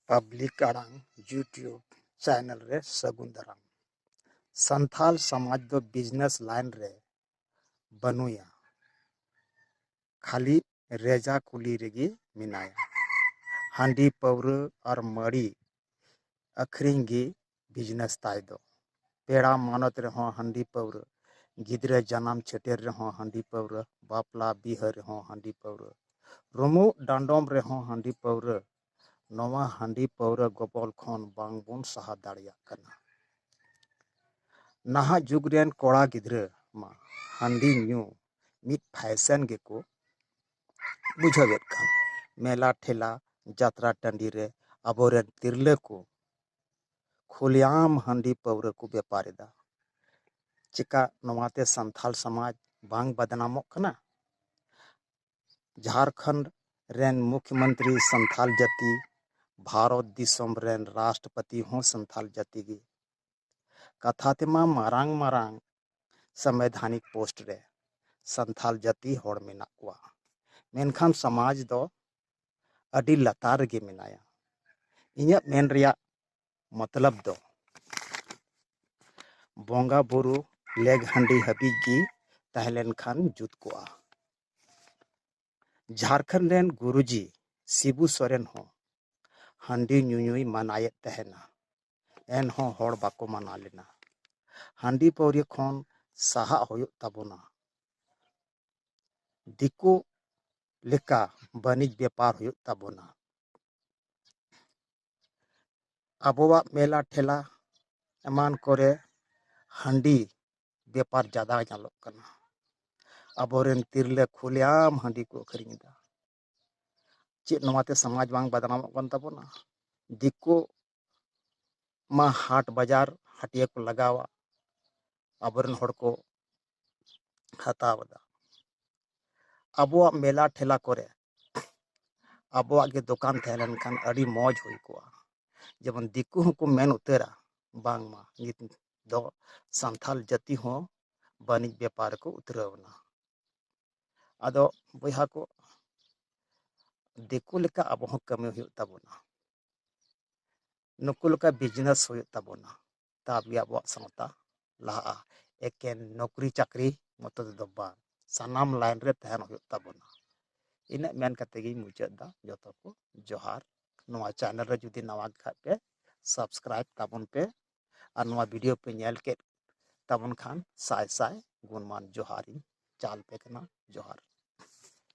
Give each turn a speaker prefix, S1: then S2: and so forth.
S1: public ᱟᱲᱟᱝ YouTube channel ᱨᱮ ᱥᱟᱹᱜᱩᱱ ᱫᱟᱨᱟᱢ ᱥᱟᱱᱛᱟᱲ ᱥᱚᱢᱟᱡᱽ ᱫᱚ ᱵᱤᱡᱽᱱᱮᱥ ᱞᱟᱭᱤᱱ ᱨᱮ ᱵᱟᱹᱱᱩᱭᱟ ᱠᱷᱟᱹᱞᱤ ᱨᱮᱡᱟ ᱠᱩᱞᱤ ᱨᱮᱜᱮ ᱢᱮᱱᱟᱭᱟ ᱦᱟᱺᱰᱤ ᱯᱟᱹᱣᱨᱟᱹ ᱟᱨ ᱢᱟᱹᱲᱤ ᱟᱹᱠᱷᱨᱤᱧ ᱜᱮ ᱵᱤᱡᱽᱱᱮᱥ ᱛᱟᱭ ᱫᱚ ᱯᱮᱲᱟ ᱢᱟᱱᱚᱛ ᱨᱮᱦᱚᱸ ᱦᱟᱺᱰᱤ ᱯᱟᱹᱣᱨᱟᱹ ᱜᱤᱫᱽᱨᱟᱹ ᱡᱟᱱᱟᱢ ᱪᱷᱟᱹᱴᱭᱟᱹᱨ ᱨᱮᱦᱚᱸ ᱦᱟᱺᱰᱤ ᱯᱟᱹᱣᱨᱟᱹ ᱵᱟᱯᱞᱟ ᱵᱤᱦᱟᱹ ᱨᱮᱦᱚᱸ ᱦᱟᱺᱰᱤ ᱯᱟᱹᱣᱨᱟᱹ ᱨᱩᱢᱩᱜ ᱰᱟᱸᱰᱚᱢ ᱨᱮᱦᱚᱸ ᱦᱟᱺᱰᱤ ᱯᱟᱹᱣᱨᱟᱹ ᱱᱚᱣᱟ ᱦᱟᱺᱰᱤ ᱯᱟᱹᱣᱨᱟᱹ ᱜᱚᱵᱚᱞ ᱠᱷᱚᱱ ᱵᱟᱝ ᱵᱚᱱ ᱥᱟᱦᱟ ᱫᱟᱲᱮᱭᱟᱜ ᱠᱟᱱᱟ ᱱᱟᱦᱟᱜ ᱡᱩᱜᱽ ᱨᱮᱱ ᱠᱚᱲᱟ ᱜᱤᱫᱽᱨᱟᱹ ᱢᱟ ᱦᱟᱺᱰᱤ ᱧᱩ ᱢᱤᱫ ᱯᱷᱮᱥᱮᱱ ᱜᱮᱠᱚ ᱵᱩᱡᱷᱟᱹᱣᱮᱫ ᱠᱟᱱ ᱢᱮᱞᱟ ᱴᱷᱮᱞᱟ ᱡᱟᱛᱨᱟ ᱴᱟᱺᱰᱤ ᱨᱮ ᱟᱵᱚ ᱨᱮᱱ ᱛᱤᱨᱞᱟᱹ ᱠᱚ ᱠᱷᱩᱞᱮᱟᱢ ᱦᱟᱺᱰᱤ ᱯᱟᱹᱣᱨᱟᱹ ᱠᱚ ᱵᱮᱯᱟᱨ ᱮᱫᱟ ᱪᱮᱠᱟ ᱱᱚᱣᱟᱛᱮ ᱥᱟᱱᱛᱟᱲ ᱥᱚᱢᱟᱡᱽ ᱵᱟᱝ ᱵᱚᱫᱱᱟᱢᱚᱜ ᱠᱟᱱᱟ ᱡᱷᱟᱲᱠᱷᱚᱸᱰ ᱨᱮᱱ ᱢᱩᱠᱷᱭᱚ ᱢᱚᱱᱛᱨᱤ ᱥᱟᱱᱛᱟᱲ ᱡᱟᱹᱛᱤ ᱵᱷᱟᱨᱚᱛ ᱫᱤᱥᱚᱢ ᱨᱮᱱ ᱨᱟᱥᱴᱨᱚᱯᱚᱛᱤ ᱦᱚᱸ ᱥᱟᱱᱛᱟᱲ ᱡᱟᱹᱛᱤ ᱜᱮ ᱠᱟᱛᱷᱟ ᱛᱮᱢᱟ ᱢᱟᱨᱟᱝ ᱢᱟᱨᱟᱝ ᱥᱟᱢᱵᱤᱫᱷᱟᱱᱤᱠ ᱯᱳᱥᱴ ᱨᱮ ᱥᱟᱱᱛᱷᱟᱞ ᱡᱟᱹᱛᱤ ᱦᱚᱲ ᱢᱮᱱᱟᱜ ᱠᱚᱣᱟ ᱢᱮᱱᱠᱷᱟᱱ ᱥᱚᱢᱟᱡᱽ ᱫᱚ ᱟᱹᱰᱤ ᱞᱟᱛᱟᱨ ᱨᱮᱜᱮ ᱢᱮᱱᱟᱭᱟ ᱤᱧᱟᱹᱜ ᱢᱮᱱ ᱨᱮᱭᱟᱜ ᱢᱚᱛᱞᱚᱵ ᱫᱚ ᱵᱚᱸᱜᱟ ᱵᱩᱨᱩ ᱞᱮᱜᱽ ᱦᱟᱺᱰᱤ ᱦᱟᱹᱵᱤᱡ ᱜᱮ ᱛᱟᱦᱮᱸ ᱞᱮᱱᱠᱷᱟᱱ ᱡᱩᱛ ᱠᱚᱜᱼᱟ ᱡᱷᱟᱨᱠᱷᱚᱸᱰ ᱨᱮᱱ ᱜᱩᱨᱩᱡᱤ ᱥᱤᱵᱩ ᱥᱚᱨᱮᱱ ᱦᱚᱸ ᱦᱟᱺᱰᱤ ᱧᱩᱧᱩᱭ ᱢᱟᱱᱟᱭᱮᱫ ᱛᱟᱦᱮᱱᱟ ᱮᱱᱦᱚᱸ ᱦᱚᱲ ᱵᱟᱠᱚ ᱢᱟᱱᱟ ᱞᱮᱱᱟ ᱦᱟᱺᱰᱤ ᱯᱟᱹᱣᱨᱟᱹ ᱠᱷᱚᱱ ᱥᱟᱦᱟᱜ ᱦᱩᱭᱩᱜ ᱛᱟᱵᱚᱱᱟ ᱫᱤᱠᱩ ᱞᱮᱠᱟ ᱵᱟᱹᱱᱤᱡᱽ ᱵᱮᱯᱟᱨ ᱦᱩᱭᱩᱜ ᱛᱟᱵᱚᱱᱟ ᱟᱵᱚᱣᱟᱜ ᱢᱮᱞᱟ ᱴᱷᱮᱞᱟ ᱮᱢᱟᱱ ᱠᱚᱨᱮ ᱦᱟᱺᱰᱤ ᱵᱮᱯᱟᱨ ᱡᱟᱫᱟ ᱧᱮᱞᱚᱜ ᱠᱟᱱᱟ ᱟᱵᱚᱨᱮᱱ ᱛᱤᱨᱞᱟᱹ ᱠᱷᱩᱞᱮᱟᱢ ᱦᱟᱺᱰᱤ ᱠᱚ ᱟᱹᱠᱷᱨᱤᱧ ᱮᱫᱟ ᱪᱮᱫ ᱱᱚᱣᱟᱛᱮ ᱥᱚᱢᱟᱡᱽ ᱵᱟᱝ ᱵᱚᱫᱱᱟᱢᱚᱜ ᱠᱟᱱ ᱛᱟᱵᱚᱱᱟ ᱫᱤᱠᱩ ᱢᱟ ᱦᱟᱴ ᱵᱟᱡᱟᱨ ᱦᱟᱹᱴᱭᱟᱹ ᱠᱚ ᱞᱟᱜᱟᱣᱟ ᱟᱵᱚᱨᱮᱱ ᱦᱚᱲ ᱠᱚ ᱦᱟᱛᱟᱣ ᱮᱫᱟ ᱟᱵᱚᱣᱟᱜ ᱢᱮᱞᱟ ᱴᱷᱮᱞᱟ ᱠᱚᱨᱮ ᱟᱵᱚᱣᱟᱜ ᱜᱮ ᱫᱚᱠᱟᱱ ᱛᱟᱦᱮᱸ ᱞᱮᱱᱠᱷᱟᱱ ᱟᱹᱰᱤ ᱢᱚᱡᱽ ᱦᱩᱭ ᱠᱚᱜᱼᱟ ᱡᱮᱢᱚᱱ ᱫᱤᱠᱩ ᱦᱚᱸᱠᱚ ᱢᱮᱱ ᱩᱛᱟᱹᱨᱟ ᱵᱟᱝᱢᱟ ᱱᱤᱛ ᱫᱚ ᱥᱟᱱᱛᱟᱲ ᱡᱟᱹᱛᱤ ᱦᱚᱸ ᱵᱟᱹᱱᱤᱡᱽ ᱵᱮᱯᱟᱨ ᱨᱮᱠᱚ ᱩᱛᱨᱟᱹᱣ ᱮᱱᱟ ᱟᱫᱚ ᱵᱚᱭᱦᱟ ᱠᱚ ᱫᱤᱠᱩ ᱞᱮᱠᱟ ᱟᱵᱚ ᱦᱚᱸ ᱠᱟᱹᱢᱤ ᱦᱩᱭᱩᱜ ᱛᱟᱵᱚᱱᱟ ᱱᱩᱠᱩ ᱞᱮᱠᱟ ᱵᱤᱡᱽᱱᱮᱥ ᱦᱩᱭᱩᱜ ᱛᱟᱵᱚᱱᱟ ᱛᱟᱵ ᱜᱮ ᱟᱵᱚᱣᱟᱜ ᱥᱟᱶᱛᱟ ᱞᱟᱦᱟᱜᱼᱟ ᱮᱠᱮᱱ ᱱᱚᱠᱨᱤ ᱪᱟᱹᱠᱨᱤ ᱢᱚᱛᱚ ᱛᱮᱫᱚ ᱵᱟᱝ ᱥᱟᱱᱟᱢ ᱞᱟᱭᱤᱱ ᱨᱮ ᱛᱟᱦᱮᱱ ᱦᱩᱭᱩᱜ ᱛᱟᱵᱚᱱᱟ ᱤᱱᱟᱹᱜ ᱢᱮᱱ ᱠᱟᱛᱮ ᱜᱮᱧ ᱢᱩᱪᱟᱹᱫ ᱮᱫᱟ ᱡᱚᱛᱚ ᱠᱚ ᱡᱚᱦᱟᱨ ᱱᱚᱣᱟ ᱪᱮᱱᱮᱞ ᱨᱮ ᱡᱩᱫᱤ ᱱᱟᱣᱟ ᱜᱮ ᱠᱷᱟᱡ ᱯᱮ ᱥᱟᱵᱥᱠᱨᱟᱭᱤᱵ ᱛᱟᱵᱚᱱ ᱯᱮ ᱟᱨ ᱱᱚᱣᱟ ᱵᱷᱤᱰᱤᱭᱳ ᱯᱮ ᱧᱮᱞ ᱠᱮᱫ ᱛᱟᱵᱚᱱ ᱠᱷᱟᱱ ᱥᱟᱭ ᱥᱟᱭ ᱜᱩᱱᱢᱟᱱ ᱡᱚᱦᱟᱨᱤᱧ ᱪᱟᱞ ᱯᱮ ᱠᱟᱱᱟ ᱡᱚᱦᱟᱨ